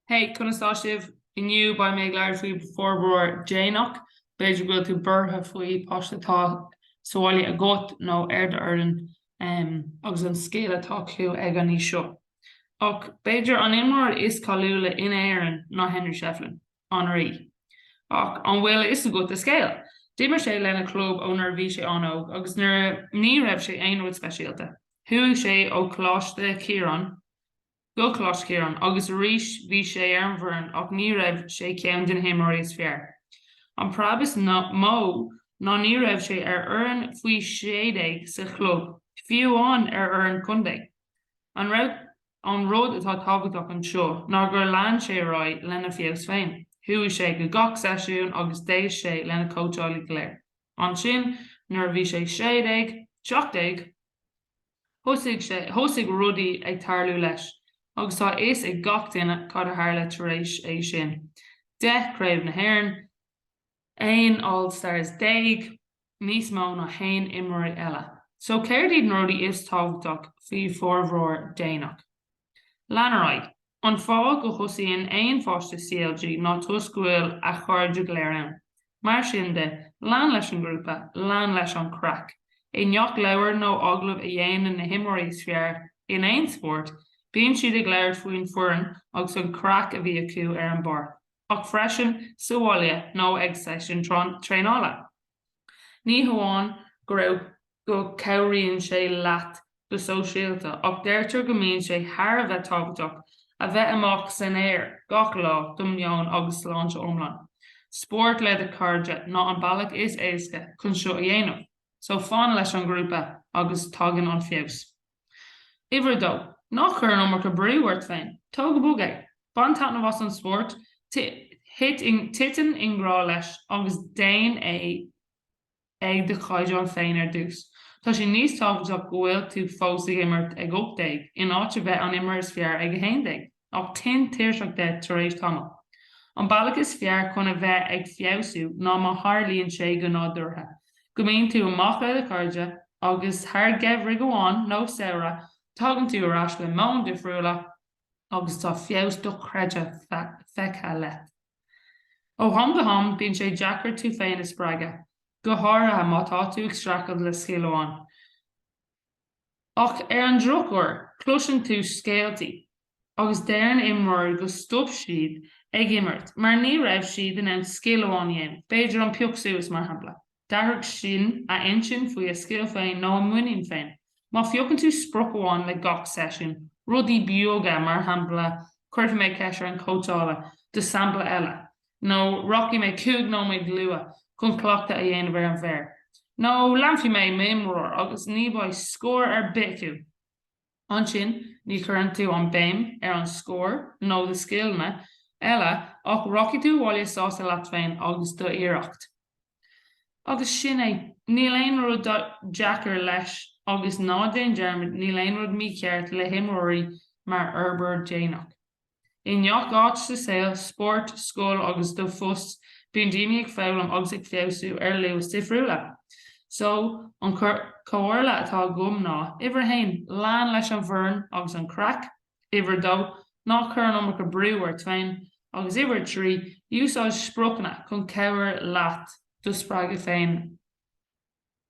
Hey, conas tá sibh? Inniu beidh mé ag labhairt faoi forbróir déanach. B'fhéidir go bhfuil tú buartha faoi páiste atá sa bhaile agat nó ar d'fhoireann um, agus an scéal atá acu ag an aois seo. Ach b'fhéidir an imreoir is cáiliúla in Éirinn ná Henry Shefflin. An Rí, Ach an bhfuil fhios agat a scéal? D'imir sé lena chlub ó nuair a bhí sé an-óg agus nuair a ní raibh sé aon rud speisialta, chuaigh sé ó Coláiste Chiaráin go Coláiste Chiaráin agus arís bhí sé ar an bhfoireann ach ní raibh sé ceann de na himreoirí is fearr. An preab is mó ná ní raibh sé ar fhoireann faoi 16 sa chlub, fiú amháin ar fhoireann contae. An raibh? An rud atá tábhachtach anseo ná gur lean sé ar aghaidh lena feabhas féin. Chuaigh sé go gach seisiún agus d'éist sé lena chóitseálaí go léir. Ansin nuair a bhí sé sé déag, seacht déag, thosaigh sé, thosaigh rudaí ag tarlú leis agus tá a fhios ag gach duine cad a tharla tar éis é sin, deich craobh na hÉireann, 11 All-Stars, níos mó ná haon imreoir eile, so céard iad na rudaí is tábhachtach faoi forbróir déanach? Lean ar aghaidh, an fáth go thosaíonn aon pháiste CLG ná toisc go bhfuil a chairde go léir ann. Mar sin de, lean leis an ghrúpa, lean leis an chraic. I ngach leabhar nó agallamh a dhéanann na himreoirí is fearr in aon spórt, bíonn siad ag labhairt faoin bhfoireann agus an chraic a bhí acu ar an bpáirc. ach freisin sa bhaile nó ag seisiúin traenála. Ní hamháin go raibh go cabhraíonn sé leat go sóisialta ach deirtear go mbíonn sé thar a bheith tábhachtach a bheith amach san aer gach lá do do mheon agus sláinte iomlán. Spórt le do chairde ná an bealach is éasca chun seo a dhéanamh, so fan leis an ghrúpa agus tagann an feabhas. Uimhir a dó, ná cuir an iomarca brú ort féin. Tóg go bog é. Bain taitneamh as an spórt, titim i ngrá leis agus déan é ag do chaighdeán féin ar dtús. Tá sé níos tábhachtach go bhfuil tú fós ag imirt ag 18 in áit a bheith an imreoir is fearr ag 11. ach tinn tuirseach de tar éis tamaill. An bealach is fearr chun a bheith ag feabhsú ná má tharlaíonn sé go nádúrtha go mbíonn tú amach le do chairde agus thar gheimhridh amháin nó samhradh tagann tú ar ais le meon difriúla agus tá feabhas dochreidte feicthe leat. Ó ham go ham bíonn sé deacair tú féin a spreagadh, go háirithe má tá tú ag streachailt le scil amháin. Ach ar an drochuair cloiseann tú scéaltaí agus deireann imreoirí go stop siad ag imirt mar ní raibh siad in ann scil amháin a dhéanamh, b'fhéidir an pioc suas mar shampla. D'athraigh sin a intinn faoi a scil féin nó a muinín féin. Má phiocann tú sprioc amháin le gach seisiún, rudaí beaga mar shampla cuirfidh mé ceist ar an cóitseálaí do sampla eile, nó rachaidh mé cúig nóiméad luath chun cleachtadh a dhéanamh ar an bhféar, nó leanfaidh mé m'imreoir agus ní bheidh scór ar bith acu. Ansin ní chuireann tú an béim ar an scór nó do scileanna eile ach rachaidh tú abhaile sásta leat féin agus do iarracht. Agus sin é. Níl aon rud deacair leis agus ná déan dearmad níl aon rud mícheart le himreoirí mar fhorbairt déanach. I ngach áit sa saol, spórt, scoil agus do phost, bíonn daoine ag foghlaim agus ag feabhsú ar luas difriúla. So, an comhairle atá agam ná, uimhir a haon, lean leis an bhfoireann agus an craic, uimhir a dó, ná cuir an iomarca brú ort féin, agus uimhir a trí, úsáid spriocanna chun cabhair leat do spreagadh féin.